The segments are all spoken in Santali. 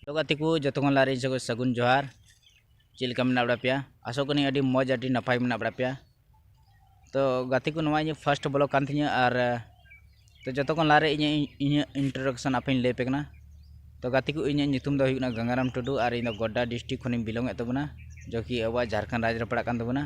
ᱦᱮᱞᱳ ᱜᱟᱛᱮ ᱠᱚ ᱡᱚᱛᱚ ᱠᱷᱚᱱ ᱞᱟᱦᱟᱨᱮ ᱤᱧ ᱥᱚᱸᱜᱮ ᱥᱟᱹᱜᱩᱱ ᱡᱚᱦᱟᱨ ᱪᱮᱫ ᱞᱮᱠᱟ ᱢᱮᱱᱟᱜ ᱵᱟᱲᱟ ᱯᱮᱭᱟ ᱟᱥᱚᱜ ᱠᱟᱹᱱᱟᱹᱧ ᱟᱹᱰᱤ ᱢᱚᱡᱽ ᱟᱹᱰᱤ ᱱᱟᱯᱟᱭ ᱢᱮᱱᱟᱜ ᱵᱟᱲᱟ ᱯᱮᱭᱟ ᱛᱚ ᱜᱟᱛᱮ ᱠᱚ ᱱᱚᱣᱟ ᱤᱧᱟᱹᱜ ᱯᱷᱟᱥᱴ ᱵᱞᱚᱜ ᱠᱟᱱ ᱛᱤᱧᱟᱹ ᱟᱨ ᱛᱚ ᱡᱚᱛᱚ ᱠᱷᱚᱱ ᱞᱟᱦᱟᱨᱮ ᱤᱧᱟᱹᱜ ᱤᱧᱟᱹᱜ ᱤᱱᱴᱨᱳᱰᱟᱠᱥᱚᱱ ᱟᱯᱮᱧ ᱞᱟᱹᱭ ᱯᱮ ᱠᱟᱱᱟ ᱛᱚ ᱜᱟᱛᱮ ᱠᱚ ᱤᱧᱟᱹᱜ ᱧᱩᱛᱩᱢ ᱫᱚ ᱦᱩᱭᱩᱜ ᱠᱟᱱᱟ ᱜᱟᱝᱜᱟᱨᱟᱢ ᱴᱩᱰᱩ ᱟᱨ ᱤᱧ ᱫᱚ ᱜᱚᱰᱰᱟ ᱰᱤᱥᱴᱨᱤᱠ ᱠᱷᱚᱱᱤᱧ ᱵᱤᱞᱚᱝ ᱮᱫ ᱛᱟᱵᱚᱱᱟ ᱡᱚ ᱠᱤ ᱟᱵᱚᱣᱟᱜ ᱡᱷᱟᱲᱠᱷᱚᱸᱰ ᱨᱟᱡᱽ ᱨᱮ ᱯᱟᱲᱟᱜ ᱠᱟᱱ ᱛᱟᱵᱚᱱᱟ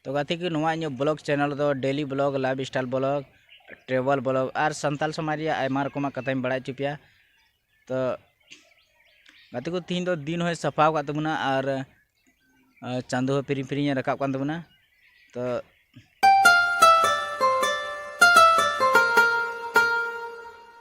ᱛᱚ ᱜᱟᱛᱮ ᱠᱚ ᱱᱚᱣᱟ ᱤᱧᱟᱹᱜ ᱵᱞᱚᱜ ᱪᱮᱱᱮᱞ ᱫᱚ daily blog lifestyle blog travel blog ᱟᱨ ᱥᱟᱱᱛᱟᱞ ᱥᱚᱢᱟᱡᱽ ᱨᱮᱭᱟᱜ ᱟᱭᱢᱟ ᱨᱚᱠᱚᱢᱟᱜ ᱠᱟᱛᱷᱟᱧ ᱵᱟᱲᱟᱭ ᱦᱚᱪᱚ ᱯᱮᱭᱟ ᱛᱚ ᱜᱟᱛᱮ ᱠᱚ ᱛᱤᱦᱤᱧ ᱫᱚ ᱫᱤᱱ ᱦᱚᱸᱭ ᱥᱟᱯᱷᱟ ᱟᱠᱟᱫ ᱛᱟᱵᱚᱱᱟ ᱟᱨ ᱪᱟᱸᱫᱚ ᱦᱚᱸ ᱯᱤᱨᱤᱧ ᱯᱤᱨᱤᱧᱮ ᱨᱟᱠᱟᱵ ᱠᱟᱱ ᱛᱟᱵᱚᱱᱟ ᱛᱚ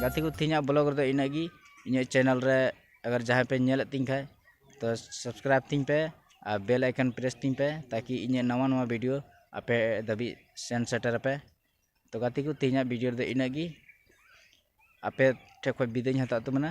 ᱜᱟᱛᱮ ᱠᱚ ᱛᱮᱦᱮᱧᱟᱜ ᱵᱞᱚᱜ ᱨᱮᱫᱚ ᱤᱱᱟᱹᱜ ᱜᱮ ᱤᱧᱟᱹᱜ ᱪᱮᱱᱮᱞ ᱨᱮ ᱟᱜᱟᱨ ᱡᱟᱦᱟᱸᱭ ᱯᱮ ᱧᱮᱞᱮᱫ ᱛᱤᱧ ᱠᱷᱟᱡ ᱛᱚ ᱥᱟᱵᱥᱠᱨᱟᱭᱤᱵᱽ ᱛᱤᱧ ᱯᱮ ᱟᱨ ᱵᱮᱞ ᱟᱭᱠᱚᱱ ᱯᱨᱮᱥ ᱛᱤᱧ ᱯᱮ ᱛᱟᱠᱤ ᱤᱧᱟᱹᱜ ᱱᱟᱣᱟ ᱱᱟᱣᱟ ᱵᱷᱤᱰᱤᱭᱳ ᱟᱯᱮ ᱫᱷᱟᱹᱵᱤᱡ ᱥᱮᱱ ᱥᱮᱴᱮᱨ ᱟᱯᱮ ᱛᱚ ᱜᱟᱛᱮ ᱠᱚ ᱛᱮᱦᱮᱧᱟᱜ ᱵᱷᱤᱰᱤᱭᱳ ᱨᱮᱫᱚ ᱤᱱᱟᱹᱜ ᱜᱮ ᱟᱯᱮ ᱴᱷᱮᱡ ᱠᱷᱚᱡ ᱵᱤᱫᱟᱹᱭ ᱤᱧ ᱦᱟᱛᱟᱣ ᱮᱫ ᱛᱟᱵᱚᱱᱟ